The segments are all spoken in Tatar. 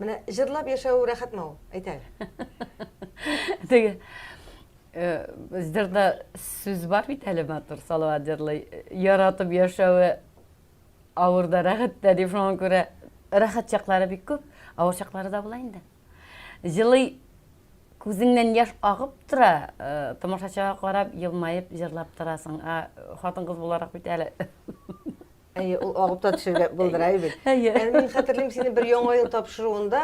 Менә җырлап яшәү рәхәтме ул? Әйт әле. Теге җырда сүз бар бит әле матур Салават җырлый. Яратып яшәве авыр да, рәхәт тә дип шуңа күрә рәхәт чаклары бик күп, авыр чаклары да була инде. Җылый күзеңнән яш агып тора, тамашачыга карап, елмаеп җырлап торасың. Хатын-кыз буларак бит әле. Әйе, ул агып та төшергә булдыра бит. Әйе. Ә мин хәтерлим сине бер яңа ел тапшыруында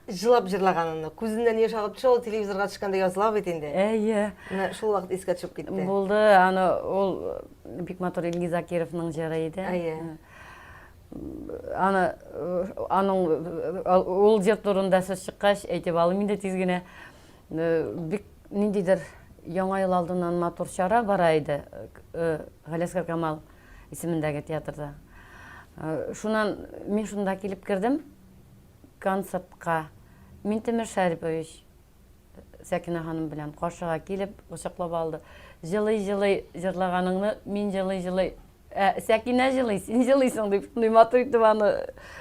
җылап җырлаганыңны. Күзеннән яшь агып төшә, ул телевизорга төшкәндә языла бит инде. Әйе. Менә шул вакыт искә төшеп китте. Булды, аны ул бик матур Илгиз Закировның җыры иде. Әйе. Аны аның ул җыр турында сүз чыккач, әйтеп алым инде тиз генә. Бик ниндидер яңа ел алдыннан матур чара бара иде. Галиәсгар Камал исемендәге театрда. Шуннан мин шунда килеп кердем концертка. Минтимер Шәрипович Сәкинә ханым белән каршыга килеп, кочаклап алды. Җылый-җылый җырлаганыңны мин җылый-җылый Ә, Сәкинә җылый, син җылыйсың дип, шундый матур итеп аны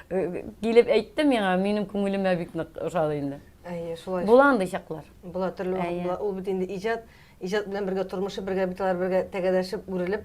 э, килеп әйтте миңа, минем күңелемә бик нык ошады инде. Әйе, шулай. Була андый чаклар. Була төрле вакыт була. Ул бит инде иҗат, иҗат белән бергә тормышы бергә бит алар бергә тәгәрәшеп, үрелеп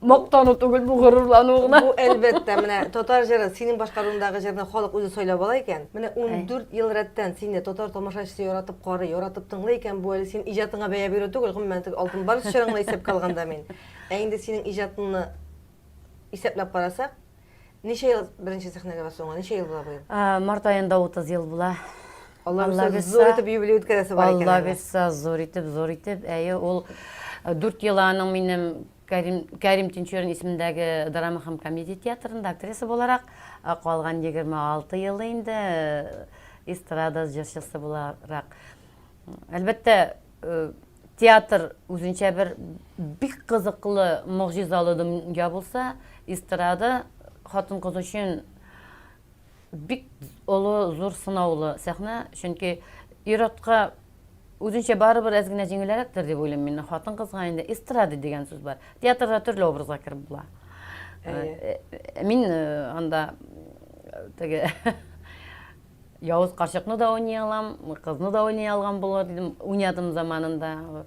Мактану түгел, бу горурлану гына. Бу әлбәттә, менә татар җыры, синең башкаруындагы җырны халык үзе сайлап ала икән. Менә 14 ел рәттән сине татар тамашачысы яратып карый, яратып тыңлый икән, бу әле син иҗатыңа бәя бирү түгел, гомумән теге алтын бар чорыңны исәпкә алганда мин. Ә инде синең иҗатыңны исәпләп карасак, ничә ел беренче сәхнәгә басуыңа, ничә ел була бу ел? Март аенда 30 ел була. Алла бирса, зур итеп юбилей үткәрәсе бар икән. Алла бирса, зур итеп, зур итеп. Әйе, ул 4 ел аның минем Кәрим, Кәрим Тинчурин исемендәге драма һәм комедия театрында актриса буларак, ә калган 26 елы инде эстрада җырчысы буларак. Әлбәттә, театр үзенчә бер бик кызыклы, могҗизалы дөнья булса, эстрада хатын-кыз өчен Бик олы, зур сынаулы сәхнә, чөнки ир-атка үзенчә барыбер әз генә җиңелрәктер дип уйлыйм мин. Хатын-кызга инде эстрада дигән сүз бар. Театрда төрле образга кереп була. Э, э, мин э, анда теге Явыз карчыкны да уйный алам, кызны да уйный алган булыр дидем, уйнадым заманында.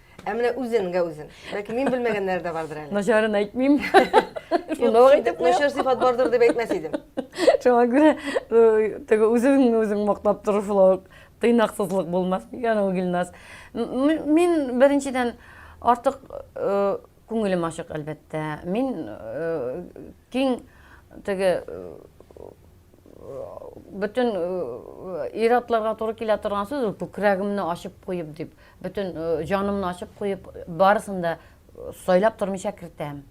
Ә менә үзененгә үзен. Ләкин мин белмәгәннәр дә бардыр әле. Начарын әйтмим. Шуны ук әйтеп куям. Начар сыйфат бардыр дип әйтмәс идем. Шуңа күрә э, теге үзеңне үзең мактап тору шулай ук тыйнаксызлык булмас микән ул Гилназ? Мин беренчедән артык э, Күңелем ачык, әлбәттә. Мин киң теге бөтен ир-атларга туры килә торган сүз ул күкрәгемне ачып куеп дип, бөтен җанымны ачып куеп, барысын да сайлап тормыйча кертәм.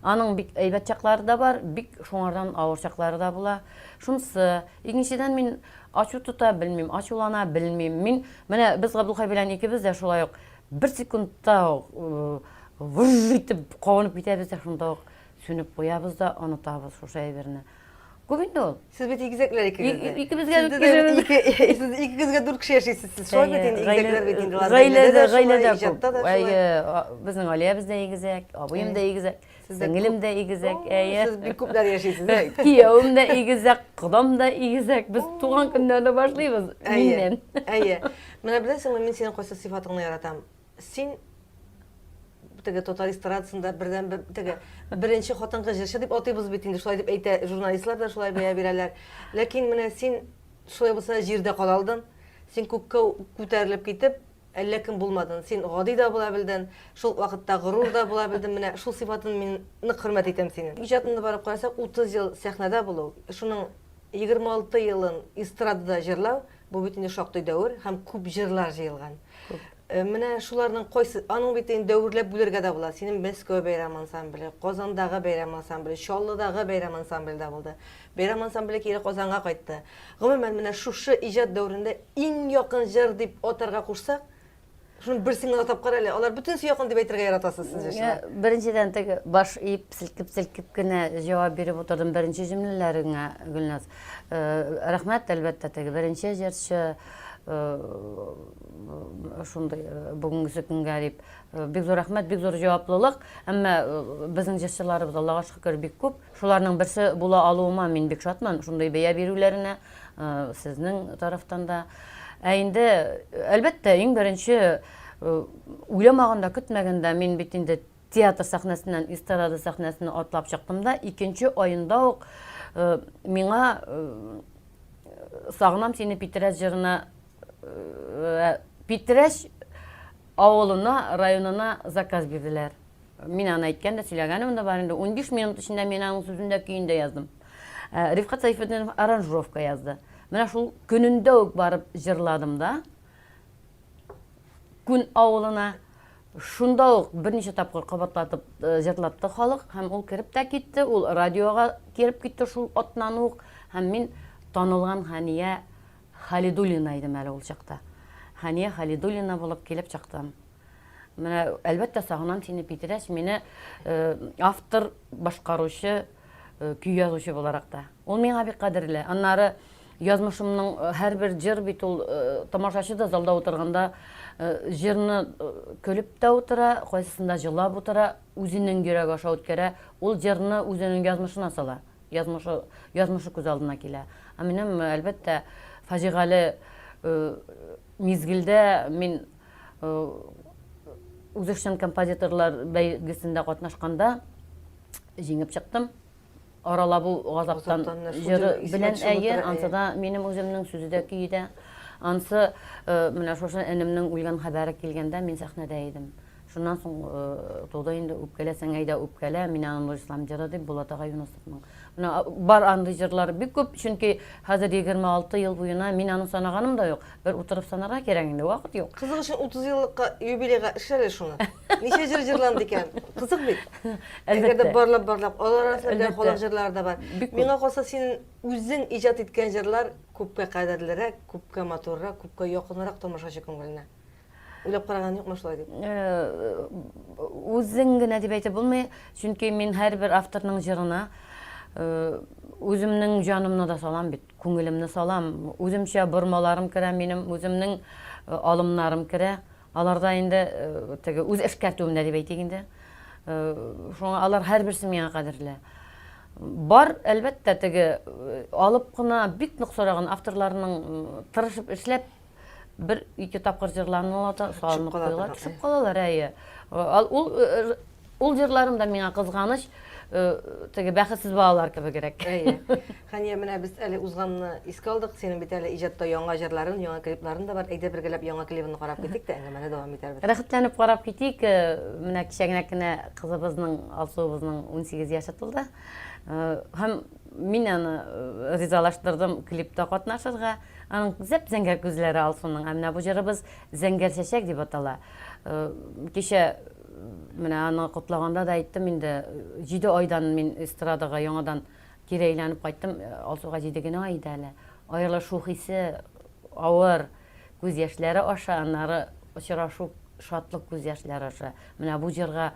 Аның бик әйбәт чаклары да бар, бик шуңардан авыр чаклары да була. Шунсы, икенчедән мин ачу тота белмим, ачулана белмим. Мин менә без Габдулхай белән икебез дә шулай ук Бер секундта гүж итеп кабынып китәбез дә шунда ук сүнеп куябыз да онытабыз шушы әйберне. Күп инде ул. Сез бит игезәкләр икегез дә. Икебезгә дә ике сез икегезгә дүрт кеше яшисез. Сез шулай бит инде игезәкләр бит инде. Гаиләдә гаиләдә иҗатта да шулай. Безнең Алиябез дә игезәк, абыем да игезәк. Сеңелем дә игезәк, әйе. Сез бик күпләр яшисез. Киявем дә игезәк, кодам да игезәк. Без туган көннәрне башлыйбыз миннән. Әйе. Менә беләсеңме, мин синең кайсы сыйфатыңны яратам? Син теге татар эстрадасында бердән бер теге беренче хатынкы җырчы дип атыйбыз бит инде шулай дип әйтә журналистлар да шулай бәя бирәләр ләкин менә син шулай булса җирдә кала алдың син күккә күтәрелеп китеп Әллә кем булмадың, син гади да була белдең, шул ук вакытта горур да була белдең, менә шул сыйфатың мин нык хөрмәт итәм синең. Иҗатыңны барып карасак, 30 ел сәхнәдә булу, шуның 26 елын эстрадада җырлау, бу бит инде шактый дәвер һәм күп җырлар җыелган. Менә шуларның кайсы, аның бит инде дәверләп бүләргә дә була, синең Мәскәү бәйрәм ансамбле, Казандагы бәйрәм ансамбле, Чаллыдагы бәйрәм ансамбле дә булды. Бәйрәм ансамбле кире Казанга кайтты. Гомумән, менә шушы иҗат дәверендә иң якын җыр дип атарга кушсак, шуны берсен генә атап кара әле. Алар бөтенесе якын дип әйтергә яратасыз сез җырчылар. Беренчедән теге баш иеп, селкеп-селкеп кенә җавап биреп утырдым беренче җөмләләреңә, Гөлназ. Рәхмәт, әлбәттә, теге беренче җырчы шундый бүгенгесе көнгә дип. Бик зур рәхмәт, бик зур җаваплылык. Әмма безнең җырчыларыбыз, Аллага шөкер, бик күп. Шуларның берсе була алуыма мин бик шатмын, шундый бәя бирүләренә сезнең тарафтан да. Ә инде, әлбәттә, иң беренче, уйламаганда, көтмәгәндә мин бит инде театр сәхнәсеннән эстрада сәхнәсенә атлап чыктым да, икенче аенда ук миңа Сагынам сине Питрәч җырына Питрәч авылына, районына заказ бирделәр. Мин аны әйткән дә, сөйләгәнем дә бар инде. Унбиш минут эчендә мин аның сүзен дә, көен дә яздым. Рифкат Сәйфетдинов аранжировка язды. Менә шул көнендә үк барып җырладым да, Күн авылына. Шунда ук берничә тапкыр кабатлатып җырлатты халык һәм ул кереп тә китте, ул радиога кереп китте шул атнан ук һәм мин танылган Хәния Халидуллина идем әле ул чакта. Хәния Халидуллина булып килеп чыктым. Менә, әлбәттә, сагынам сине, Питрәч. Мине автор, башкаручы, көй язучы буларак та. Ул миңа бик кадерле. Аннары язмышымның һәрбер җыр бит ул тамашачы да залда утырганда җырны көлеп тә утыра, кайсысында җылап утыра, үзенең йөрәге аша үткәрә. Ул җырны үзенең язмышына сала. Язмышы, язмышы күз алдына килә. Ә минем, әлбәттә, фаҗигале мизгелдә мин Үзешчән композиторлар бәйгесендә катнашканда җиңеп чыктым. Аралап ул газаптан җыры белән әйе, ансы да минем үземнең сүзе дә көе дә. Ансы менә шушы энемнең үлгән хәбәре килгәндә мин сәхнәдә идем. Шуннан соң туды инде үпкәләсәң әйдә үпкәлә, мин аны нурислам җыры дип Булат ага Юнысовның Менә бар андый җырлары бик күп, чөнки хәзер егерме алты ел буена мин аны санаганым да юк. Бер утырып санарга кирәк инде, вакыт юк. Кызык өчен утыз еллыкка юбилейга эшлә әле шуны. Ничә җыр җырланды икән? Кызык бит. Әгәр дә барлап барлап, алар арасында бер халык җырлары да бар. Миңа калса син үзең иҗат иткән җырлар күпкә кадерлерәк, күпкә матуррак, күпкә якынрак тамашачы күңеленә. Уйлап караган юкмы шулай дип? Үзең генә дип әйтеп булмый, чөнки мин һәрбер авторның җырына үземнең җанымны да салам бит, күңелемне салам. Үземчә бормаларым керә минем, үземнең алымнарым керә. Аларда инде теге үз эшкәртүемдә дип әйтик инде. Шуңа алар һәрберсе миңа кадерле. Бар, әлбәттә, теге алып кына бик нык сораган авторларның тырышып эшләп бер ике тапкыр җырланалар да салынып куялар төшеп калалар әйе ул ул җырларым да миңа кызганыч теге бәхетсез балалар кебегрәк әйе хәния менә без әле узганны искә алдык синең бит әле иҗатта яңа җырларың яңа клипларың да бар әйдә бергәләп яңа клибыңны карап китик тә әңгәмәне дәвам итәрбез рәхәтләнеп карап китик менә кечәгенә кенә кызыбызның алсуыбызның унсигез яше тулды һәм Мин аны ризалаштырдым клипта катнашырга. Аның зәп-зәңгәр күзләре Алсуның. Ә менә бу җырыбыз Зәңгәр чәчәк дип атала. Кичә менә аны котлаганда да әйттем инде, җиде айдан мин эстрадага яңадан кире әйләнеп кайттым. Алсуга җиде генә ай иде әле. Аерылышу хисе авыр. Күз яшьләре аша, аннары очрашу шатлык күз яшьләре аша. Менә бу җырга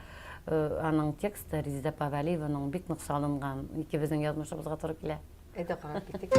аның тексты Резеда Павәлиеваның бик нык салынган. Икебезнең язмышыбызга туры килә. Әйдә карап китик.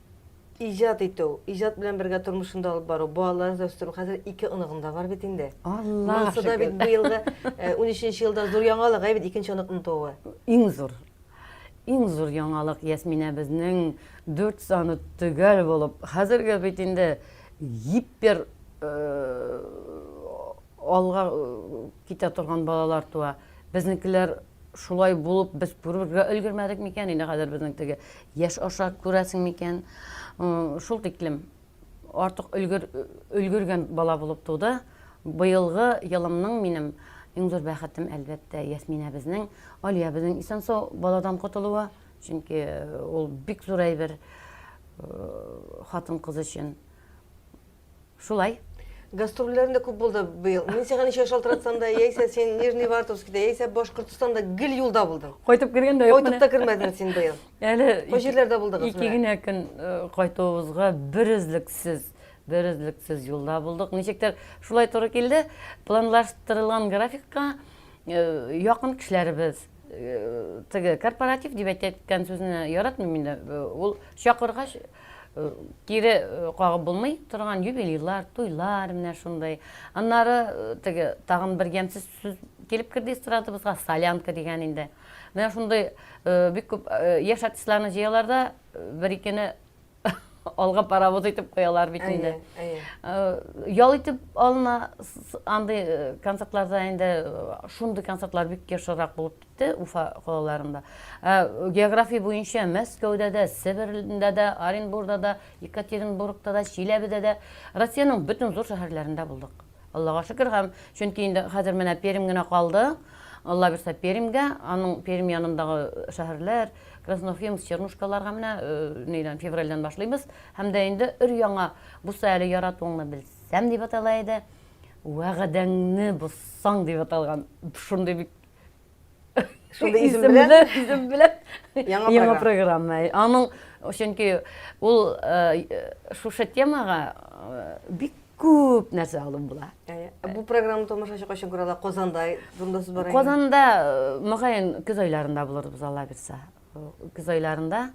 Иҗат итү, иҗат белән бергә тормышын да алып бару, балаларын да үстерү. Хәзер ике оныгым да бар бит инде. Алла Монысы да бит быел да 13 елда зур яңалык, әйбит икенче оныкның тууы. Иң зур. Иң зур яңалык Ясминәбезнең дүрт саны төгәл булып, хәзергә бит инде гипер алга Китә торган балалар туа. Безнекеләр шулай булып без күрергә өлгермәдек микән инде хәзер безнең теге яшь аша күрәсең микән? Шул тиклем артык өлгер өлгергән бала булып туды. Быелгы елымның минем иң зур бәхетем, әлбәттә, Ясминәбезнең, Алиябезнең исән-сау баладан котылуы. Чөнки ул бик зур әйбер хатын-кыз өчен. Шулай. Гастрольләрем дә күп булды быел. Мин сиңа ничә шалтыратсам да, яисә син Нижний Вартовскида, яисә Башкортстанда гел юлда булдың. Кайтып кергән дә юк. Кайтып та кермәдең син быел. Әле бу җирләрдә булдыгыз. Ике генә көн э, кайтуыбызга берөзлексез, берөзлексез юлда булдык. Ничектер шулай туры килде. Планлаштырылган графикка э, якын кешеләребез э, теге корпоратив дип әйткән сүзне яратмыйм инде. Ул чакыргач Кире кагып булмый торган юбилейлар, туйлар, менә шундый. Аннары теге тагын бер ямьсез сүз килеп керде эстрадабызга, солянка дигән инде. Менә шундый бик күп яшь артистларны җыялар да, бер-икене алга паровоз итеп куялар бит инде. Ял итеп алына андый концертларда инде шундый концертлар бик ешрак булып итте, Уфа калаларында. Ә география буенча Мәскәүдә дә, Себердә дә, Оренбурда да, Екатеринбургта да, Чиләбедә дә, Россиянең бөтен зур шәһәрләрендә булдык. Аллага шөкер һәм чөнки инде хәзер менә Пермь генә калды. Алла бирсә Пермьгә, аның Пермь янындагы шәһәрләр, Красноуфимск, Чернушкаларга менә нидән февральдән башлыйбыз. Һәм дә инде өр-яңа буса әле яратуыңны белсәм дип атала иде. Вәгъдәңне бозсаң дип аталган. Шундый бик Шундый исем белән. Исем белән. Яңа, Яңа программа. Аның чөнки ул шушы темага бик күп нәрсә алып була. Бу программаны тамашачы кайчан күрә ала? Казанда турында сүз бара. Казанда мөгаен көз айларында булырбыз Алла бирсә. Көз айларында.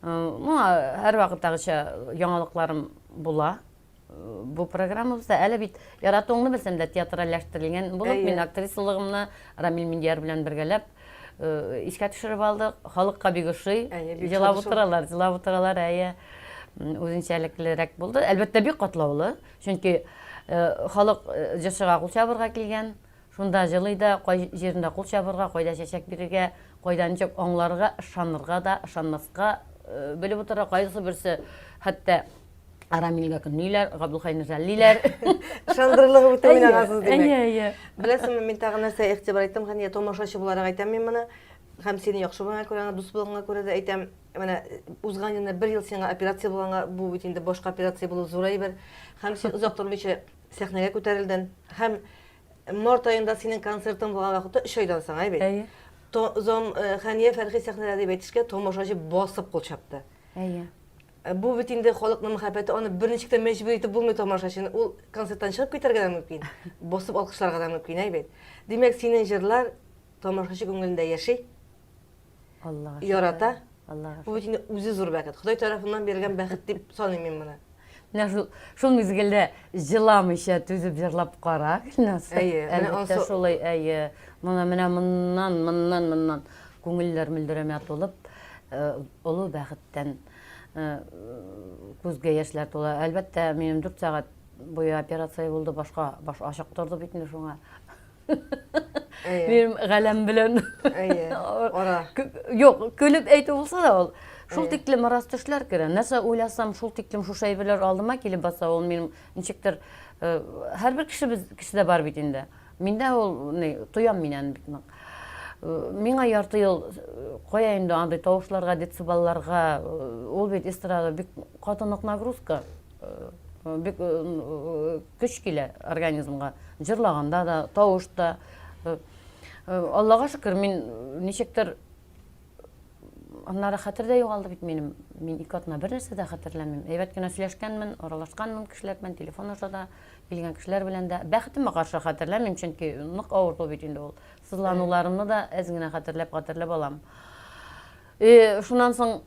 Ну, һәр вакыттагыча яңалыкларым була. бу программабызда әле бит яратуыңны белсәм дә театральләштерелгән булып мин актрисалыгымны Рамил Миндияр белән бергәләп э, искә төшереп алдык. Халыкка бик ошый. Җылап утыралар, җылап утыралар, әйе. Үзенчәлеклерәк булды. Әлбәттә, бик катлаулы. Чөнки э, халык э, җырчыга кул чабырга килгән. Шунда җылый да, кай җирендә кул чабырга, кайда чәчәк бирергә, кайда ничек аңларга, ышанырга да, ышанмаска белеп утыра, кайсы берсе хәтта Арамилгә көнлиләр, Габдулхайны жәллиләр. Ышандырылыгы үтә мин агасыз димәк. Әйе, әйе. Беләсеңме, мин тагын нәрсә игътибар иттем, хәния томашачы буларак әйтәм мин моны. Һәм сине яхшы булган күрә, дус булганга күрә дә әйтәм, менә узган елны бер ел сиңа операция булганга, бу бит инде башка операция булу зурай бер. Һәм син озак тормыйча Сәхнәгә күтәрелден һәм март аенда синең концертың булган вакытта өч айдан соң әйбит әйе зам э, хәния фәрхи сәхнәдә дип әйтешкә тамашачы басып кул чапты әйе э, бу бит инде халыкның мәхәббәте аны берничек тә мәҗбүр итеп булмый тамашачыны ул концерттан чыгып китәргә дә мөмкин басып алкышларга да мөмкин әйбит димәк синең җырлар тамашачы күңелендә яши ярата. Бу бит инде үзе зур бәхет. Ходай тарафыннан бирелгән бәхет дип саныйм мин моны. Менә шул шул мизгелдә җыламыйча түзеп җырлап кара, Гөлназ. Әйе, әлбәттә шулай, әйе. Моны менә моннан, моннан, моннан күңелләр мөлдерәмә тулып, олы бәхеттән күзгә яшьләр тула. Әлбәттә, минем дүрт сәгать буе операция булды, башка баш ачык торды бит инде шуңа. Минем галәм белән. Ара. Юк, көлеп әйтү булса да ул. Шул тиклем арас төшләр керә. Нәрсә уйласам, шул тиклем шушы әйберләр алдыма килеп баса, ул минем ничектер э, һәрбер кешебез кешедә бар бит инде. Миндә ул ни, тоям мин аны бит нык. Э, миңа ярты ел э, кая инде андый тавышларга, детсыбалларга, ул бит эстрада бик каты нык нагрузка. Бик көч килә организмга. Җырлаганда да, тавыш та. Аллага шөкер, мин ничектер аннары хәтер дә югалды бит минем. Мин ике атна бер нәрсә дә хәтерләмим. Әйбәт кенә сөйләшкәнмен, аралашканмын кешеләр белән, телефон аша да, килгән кешеләр белән дә. Бәхетемә каршы хәтерләмим, чөнки нык авырту бит инде ул. Сызлануларымны да әз генә хәтерләп-хәтерләп алам. Шуннан соң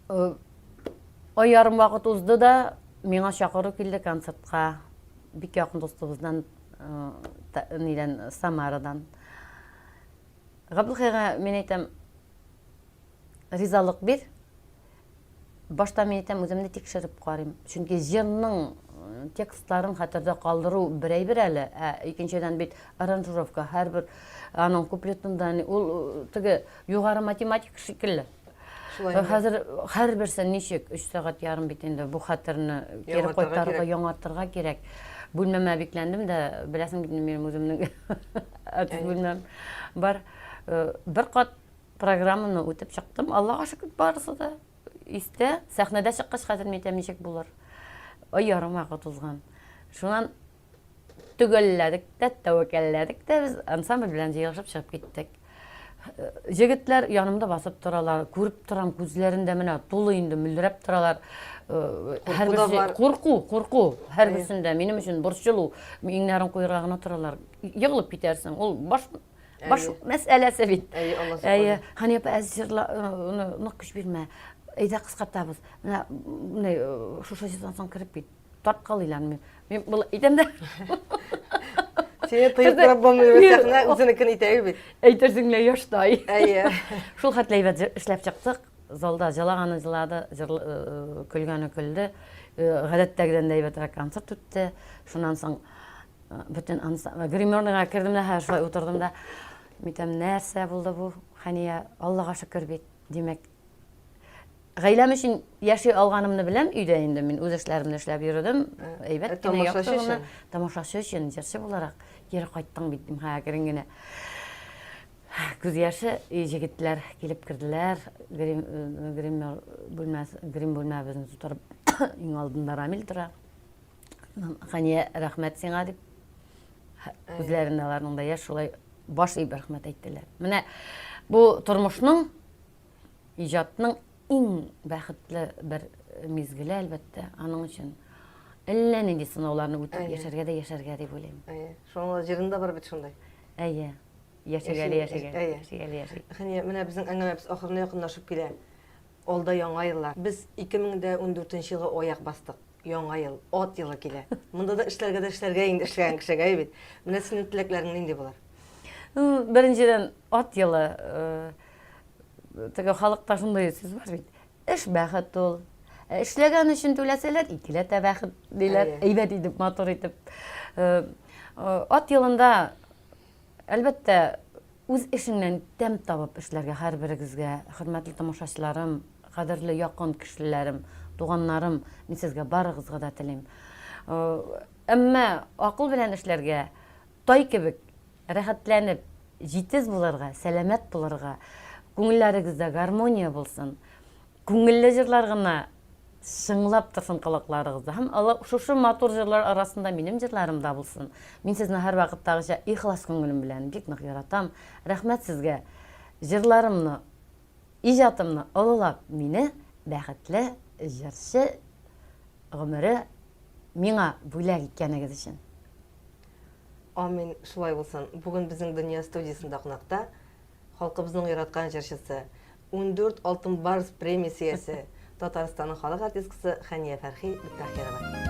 Ай ярым вакыт узды да, миңа чакыру килде концертка. Бик якын дустыбыздан, нидән, Самарадан. Габдулхайга мин әйтәм, ризалык бир. Башта мин әйтәм, үземне тикшереп карыйм. Чөнки җырның текстларын хәтердә калдыру берәйбер әле, ә икенчедән бит аранжировка, һәрбер аның куплетында, ул теге югары математик шикелле. Хәзер һәрберсе ничек 3 сәгать ярым бит инде бу хәтерне кире кайтарырга, яңартырга кирәк. Бүлмәмә бикләндем дә, беләсең бит минем үземнең артист бүлмәм бар. Э, бер кат программаны үтеп чыктым. Аллага шөкер, барысы да истә. Сәхнәдә чыккач хәзер мин әйтәм, ничек булыр? Ай ярым вакыт узган. Шуннан Төгәлләдек тә, тәвәкәлләдек тә, без ансамбль белән җыелышып чыгып киттек. Җегетләр янымда басып торалар, күреп торам, күзләрендә менә тулы инде мөлдерәп торалар. Һәрберсе курку, курку, һәрберсендә минем өчен борчылу, иңнәрен куерга гына торалар. Егылып китәрсең, ул баш баш мәсьәләсе бит. Әйе, Алла саклый. Хания апа, әз җырла, нык көч бирмә. Әйдә кыскартабыз. Менә шушы җырдан соң кереп кит. Тап кал илан мин. Мин бул итәм дә. Сине тыеп торып булмый бит сәхнә, үзенекен итә бит. Әйтерсең лә яшьтай. Әйе. Шул хәтле әйбәт эшләп чыктык. Залда җылаганы җылады, э, көлгәне көлде. Э, гадәттәгедән дә әйбәтрәк концерт үтте. Шуннан соң э, бөтен гримерныйга кердем дә, һәр шулай утырдым да. Митәм, нәрсә булды бу? Хәния, Аллага шөкер бит. Димәк, Гаиләм өчен яши алганымны беләм өйдә инде. Мин үз эшләремне эшләп йөрдем. Әйбәт кенә яхшы гына. Тамашачы өчен, җырчы буларак кире кайттың бит, дим, ха, әкрен генә. Күз яше, и җегетләр килеп керделәр. Грим, грим бүлмәс, грим бүлмәбезне тутырып, иң алдында Рамил тора. Хания, рәхмәт сиңа дип. Үзләрендә аларның да яшь шулай баш иеп рәхмәт әйттеләр. Менә бу тормышның Иҗатның иң бәхетле бер мизгеле, әлбәттә, аның өчен әллә нинди сынауларны үтеп яшәргә дә яшәргә дип уйлыйм. Әйе. Шуның җырында бар бит шундай. Әйе. Яшәгәле яшәгәле. Әйе. Яшәгәле яшәгәле. Хәния, менә безнең әңгәмәбез ахырына якынлашып килә. Алда яңа еллар. Без 2014 елга аяк бастык. Яңа ел, ат елы килә. Монда да эшләргә дә эшләргә инде эшләгән кешегә, әйе бит. Менә синең теләкләрең нинди булыр? Беренчедән, ат елы. Э, Теге халыкта шундый сүз бар бит. Эш бәхет ул. Ә эшләгән өчен түләсәләр, икеләтә бәхет диләр. Әйбәт итеп, матур итеп. Э, э, ат елында, әлбәттә, үз эшеңнән тәм табып эшләргә һәрберегезгә, хөрмәтле тамашачыларым, кадерле якын кешеләрем, туганнарым, мин сезгә барыгызга да телим. Э, әмма акыл белән эшләргә, тай кебек Рәхәтләнеп, җитез булырга, сәламәт булырга, күңелләрегездә гармония булсын, күңелле җырлар гына чыңлап торсын колакларыгызда һәм шушы матур җырлар арасында минем җырларым да булсын. Мин сезне һәрвакыттагыча ихлас күңелем белән бик нык яратам. Рәхмәт сезгә, җырларымны, иҗатымны олылап, мине бәхетле җырчы гомере миңа бүләк иткәнегез өчен. Амин, шулай булсын. Бүген безнең Дөнья студиясендә кунакта халкыбызның яраткан җырчысы, ундүрт Алтын барс премиясе иясе, Татарстанның халык артисткасы Хәния Фәрхи Бекбахирова.